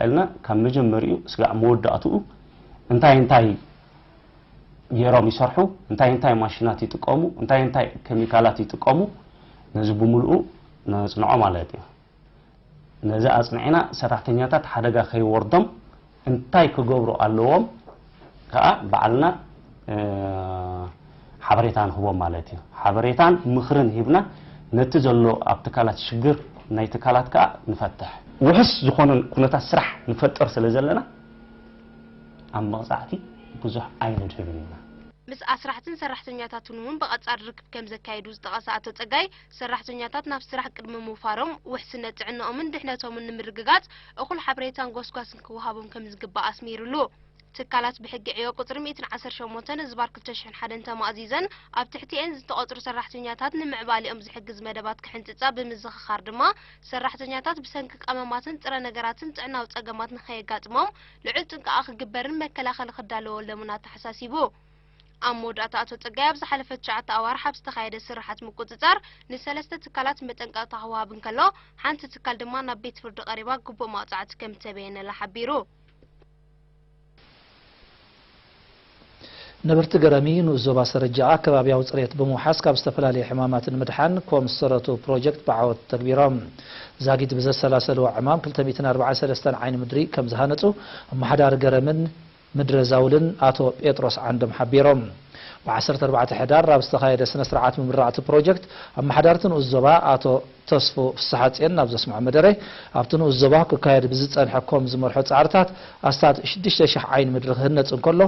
እልና ካብ መጀመርኡ ስጋዕ መወዳእትኡ እንታይ እንታይ ገይሮም ይሰርሑ፣ እንታይ እንታይ ማሽናት ይጥቀሙ፣ እንታይ እንታይ ኬሚካላት ይጥቀሙ፣ ነዚ ብምልኡ ነጽንዖ ማለት እዩ። ነዚ ኣጽኒዕና ሰራሕተኛታት ሓደጋ ከይወርዶም እንታይ ክገብሩ ኣለዎም ከኣ ባዕልና ሓበሬታ ንህቦም ማለት እዩ። ሓበሬታን ምኽርን ሂብና ነቲ ዘሎ ኣብ ትካላት ሽግር ናይ ትካላት ከኣ ንፈትሕ። ውሑስ ዝኾነ ኩነታት ስራሕ ንፈጥር ስለ ዘለና ኣብ መቕጻዕቲ ብዙሕ ኣይንድህብን ኢና። ምስ ኣስራሕትን ሰራሕተኛታትን'ውን ብቐጻሊ ርክብ ከም ዘካየዱ ዝጠቐሰ ኣቶ ጸጋይ፣ ሰራሕተኛታት ናብ ስራሕ ቅድሚ ምውፋሮም ውሕስነት ጥዕንኦምን ድሕነቶምን ንምርግጋጽ እኹል ሓበሬታን ጎስጓስን ክወሃቦም ከም ዝግባእ ኣስሚርሉ። ትካላት ብሕጊ ዕዮ ቁጽሪ ሚእትን ዓሰርተ ሸሞንተን ህዝባር ክልተ ሽሕን ሓደን ተማእዚዘን ኣብ ትሕቲኤን ዝተቐጽሩ ሰራሕተኛታት ንምዕባሌኦም ዝሕግዝ መደባት ክሕንጽጻ ብምዝኽኻር ድማ ሰራሕተኛታት ብሰንኪ ቀመማትን ጥረ ነገራትን ጥዕናዊ ጸገማት ንኸየጋጥሞም ልዑል ጥንቃቐ ክግበርን መከላኸሊ ክዳለወሎምን ኣተሓሳሲቡ። ኣብ መወዳእታ ኣቶ ጸጋይ ኣብ ዝሓለፈ ትሽዓተ ኣዋርሕ ኣብ ዝተኻየደ ስርሓት ምቁጽጻር ንሰለስተ ትካላት መጠንቀቕታ ክወሃብ እንከሎ ሓንቲ ትካል ድማ ናብ ቤት ፍርዲ ቀሪባ ግቡእ መቕጻዕቲ ከምእተበየነላ ሓቢሩ። ነበርቲ ገረሚ ንኡስ ዞባ ሰረጃኣ ከባቢያዊ ፅሬት ብምውሓስ ካብ ዝተፈላለዩ ሕማማት ንምድሓን ኮም ዝሰረቱ ፕሮጀክት ብዓወት ተግቢሮም። ዛጊት ብዘሰላሰልዎ ዕማም ክልተ ሚእትን ኣርባዓን ሰለስተን ዓይኒ ምድሪ ከምዝሃነፁ ኣመሓዳሪ ገረምን ምድረ ዛውልን ኣቶ ጴጥሮስ ዓንዶም ሓቢሮም። ብ ዓሰርተ ኣርባዕተ ሕዳር ኣብ ዝተኻየደ ስነ ስርዓት ምምራቕ'ቲ ፕሮጀክት ኣመሓዳርቲ ንኡስ ዞባ ኣቶ ተስፉ ፍስሓጽዮን ናብ ዘስምዖ መደረ፣ ኣብቲ ንኡስ ዞባ ክካየድ ብዝጸንሐ ኮም ዝመርሖ ጻዕርታት ኣስታት ሽዱሽተ ሽሕ ዓይኒ ምድሪ ክህነጽ እንከሎ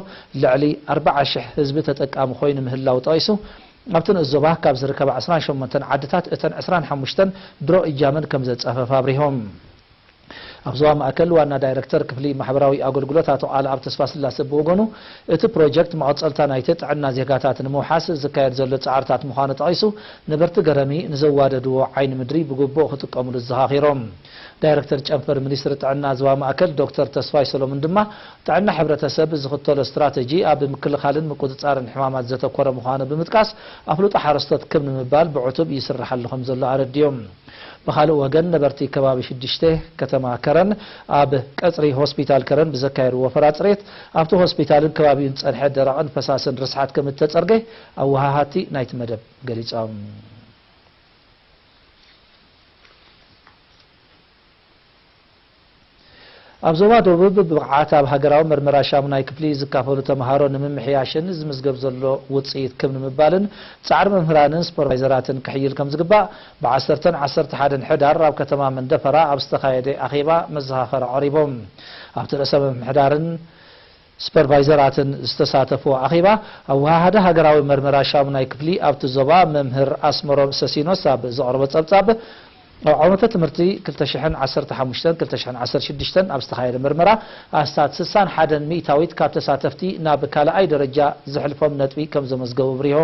ልዕሊ ኣርብዓ ሽሕ ህዝቢ ተጠቃሚ ኮይኑ ምህላዉ ጠቒሱ፣ ኣብቲ ንኡስ ዞባ ካብ ዝርከባ ዕስራን ሸሞንተን ዓድታት እተን ዕስራን ሓሙሽተን ድሮ እጃመን ከምዘጻፈፋ ኣብሪሆም። ኣብ ዞባ ማእከል ዋና ዳይረክተር ክፍሊ ማሕበራዊ ኣገልግሎት ኣቶ ቃልኣብ ተስፋስላሰ ብወገኑ፣ እቲ ፕሮጀክት መቐጸልታ ናይቲ ጥዕና ዜጋታት ንምውሓስ ዝካየድ ዘሎ ጻዕርታት ምዃኑ ጠቒሱ፣ ነበርቲ ገረሚ ንዘዋደድዎ ዓይኒ ምድሪ ብግቡእ ክጥቀምሉ ኣዘኻኺሮም። ዳይረክተር ጨንፈር ሚኒስትሪ ጥዕና ዞባ ማእከል ዶክተር ተስፋይ ሰሎሙን ድማ፣ ጥዕና ሕብረተሰብ ዝኽተሎ ስትራተጂ ኣብ ምክልኻልን ምቁጽጻርን ሕማማት ዘተኮረ ምዃኑ ብምጥቃስ፣ ኣፍልጦ ሓረስቶት ክብ ንምባል ብዕቱብ ይስርሓሉ ከምዘሎ ኣረዲኦም። ብኻልእ ወገን ነበርቲ ከባቢ ሽዱሽተ ከተማ ከረን ኣብ ቀፅሪ ሆስፒታል ከረን ብዘካየድዎ ወፈራ ፅሬት ኣብቲ ሆስፒታልን ከባቢኡን ዝፀንሐ ደረቕን ፈሳስን ርስሓት ከምእተፀርገ ኣወሃሃድቲ ናይቲ መደብ ገሊፆም። ኣብ ዞባ ደቡብ ብብቕዓት ኣብ ሃገራዊ መርመራ ሻሙናይ ክፍሊ ዝካፈሉ ተምሃሮ ንምምሕያሽን ዝምዝገብ ዘሎ ውፅኢት ክብ ንምባልን ፃዕሪ መምህራንን ሱፐርቫይዘራትን ክሕይል ከምዝግባእ ብ ዓሰርተን ዓሰርተ ሓደን ሕዳር ኣብ ከተማ መንደፈራ ኣብ ዝተኻየደ ኣኼባ መዘኻኸሪ ቐሪቦም ኣብቲ ርእሰ ምምሕዳርን ስፐርቫይዘራትን ዝተሳተፍዎ ኣኼባ ኣወሃሃዲ ሃገራዊ መርመራ ሻሙናይ ክፍሊ ኣብቲ ዞባ መምህር ኣስመሮም ሰሲኖስ ኣብ ዘቕረቦ ጸብጻብ፣ ኣብ ዓመተ ትምህርቲ ክልተ ሽሕን ዓሰርተ ሓሙሽተን ክልተ ሽሕን ዓሰርተ ሽዱሽተን ኣብ ዝተኻየደ መርመራ ኣስታት ስሳን ሓደን ሚእታዊት ካብ ተሳተፍቲ ናብ ካልኣይ ደረጃ ዘሕልፎም ነጥቢ ከምዘመዝገቡ ኣብሪሁ።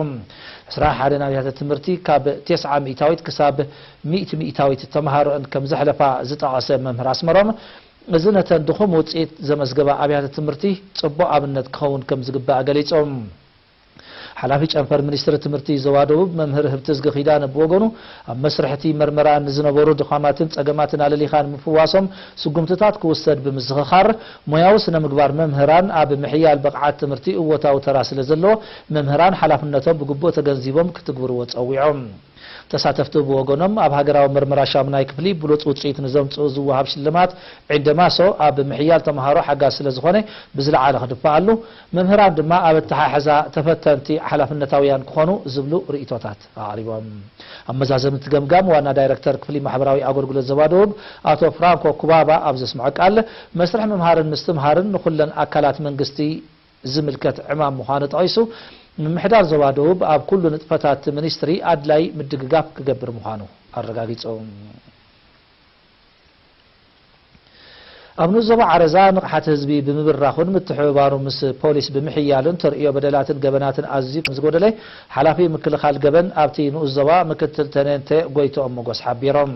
ዕስራ ሓደን ኣብያተ ትምህርቲ ካብ ቴስዓ ሚእታዊት ክሳብ ሚእቲ ሚእታዊት ተመሃሮኣን ከምዘሕለፋ ዝጠቐሰ መምህር ኣስመሮም፣ እዚ ነተን ድኹም ውፅኢት ዘመዝገባ ኣብያተ ትምህርቲ ፅቡቕ ኣብነት ክኸውን ከምዝግባእ ገሊፆም። ሓላፊ ጨንፈር ሚኒስትሪ ትምህርቲ ዞባ ደቡብ መምህር ህብትዝጊ ኪዳነ ብወገኑ፣ ኣብ መስርሕ እቲ መርመራ ንዝነበሩ ድኻማትን ፀገማትን ኣለሊኻ ንምፍዋሶም ስጉምትታት ክውሰድ ብምዝኽኻር፣ ሞያዊ ስነ ምግባር መምህራን ኣብ ምሕያል ብቕዓት ትምህርቲ እወታዊ ተራ ስለዘለዎ መምህራን ሓላፍነቶም ብግቡእ ተገንዚቦም ክትግብርዎ ፀዊዖም። ተሳተፍቲ ብወገኖም ኣብ ሃገራዊ ምርምራ ሻሙናይ ክፍሊ ብሉጽ ውጽኢት ንዘምጽኡ ዝወሃብ ሽልማት ዒንደ ማሶ ኣብ ምሕያል ተመሃሮ ሓጋዚ ስለዝኾነ ብዝለዓለ ክድፋኣሉ፣ መምህራን ድማ ኣብ ኣተሓሕዛ ተፈተንቲ ሓላፍነታውያን ክኾኑ ዝብሉ ርእይቶታት ኣቕሪቦም። ኣብ መዛዘምቲ ገምጋም ዋና ዳይረክተር ክፍሊ ማሕበራዊ ኣገልግሎት ዞባ ደቡብ ኣቶ ፍራንኮ ኩባባ ኣብ ዘስምዖ ቃል፣ መስርሕ ምምሃርን ምስትምሃርን ንኹለን ኣካላት መንግስቲ፣ ዝምልከት ዕማም ምዃኑ ጠቒሱ፣ ምምሕዳር ዞባ ደቡብ ኣብ ኩሉ ንጥፈታት እቲ ሚኒስትሪ ኣድላዪ ምድግጋፍ ክገብር ምዃኑ ኣረጋጊጹ። ኣብ ንኡስ ዞባ ዓረዛ ንቕሓት ህዝቢ ብምብራኹን ምትሕብባሩ ምስ ፖሊስ ብምሕያሉን ተርእዮ በደላትን ገበናትን ኣዝዩ ከምዝጎደለ ሓላፊ ምክልኻል ገበን ኣብቲ ንኡስ ዞባ ምክትል ተኔንተ ጎይትኦም መጎስ ሓቢሮም።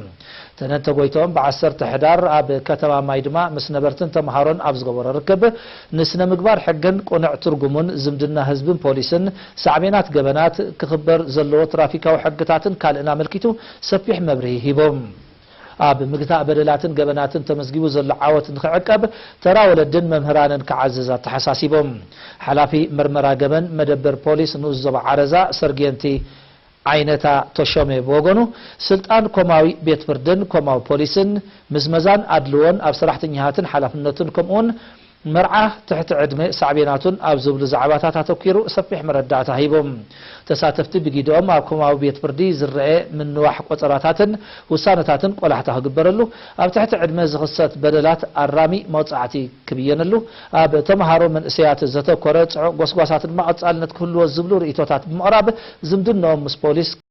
ተነንተ ጎይትኦም ብ ዓሰርተ ሕዳር ኣብ ከተማ ማይድማ ምስ ነበርትን ተምሃሮን ኣብ ዝገበሮ ርክብ፣ ንስነ-ምግባር ሕግን ቁንዕ ትርጉሙን፣ ዝምድና ህዝብን ፖሊስን፣ ሳዕቤናት ገበናት፣ ክኽበር ዘለዎ ትራፊካዊ ሕግታትን ካልእን ኣመልኪቱ ሰፊሕ መብርሂ ሂቦም። ኣብ ምግታእ በደላትን ገበናትን ተመዝጊቡ ዘሎ ዓወት ንኽዕቀብ ተራ ወለድን መምህራንን ክዓዝዝ ኣተሓሳሲቦም። ሓላፊ ምርመራ ገበን መደበር ፖሊስ ንኡስ ዞባ ዓረዛ ሰርጌንቲ ዓይነታ ተሾመ ብወገኑ፣ ስልጣን ኮማዊ ቤት ፍርድን ኮማዊ ፖሊስን፣ ምዝመዛን ኣድልዎን ኣብ ሰራሕተኛታትን ሓላፍነቱን ከምኡ'ውን መርዓ ትሕቲ ዕድመ ሳዕቤናቱን ኣብ ዝብሉ ዛዕባታት ኣተኲሩ ሰፊሕ መረዳእታ ሂቡ። ተሳተፍቲ ብጊደኦም ኣብ ኮማዊ ቤት ፍርዲ ዝረኣ ምንዋሕ ቆጸራታትን ውሳነታትን ቆላሕታ ክግበረሉ፣ ኣብ ትሕቲ ዕድመ ዝኽሰት በደላት ኣራሚ መቕጻዕቲ ክብየነሉ፣ ኣብ ተመሃሮ መንእሰያት ዘተኮረ ጽዑቕ ጎስጓሳት ድማ ቀጻልነት ክህልዎ ዝብሉ ርእይቶታት ብምቕራብ ዝምድንኦም ምስ ፖሊስ፣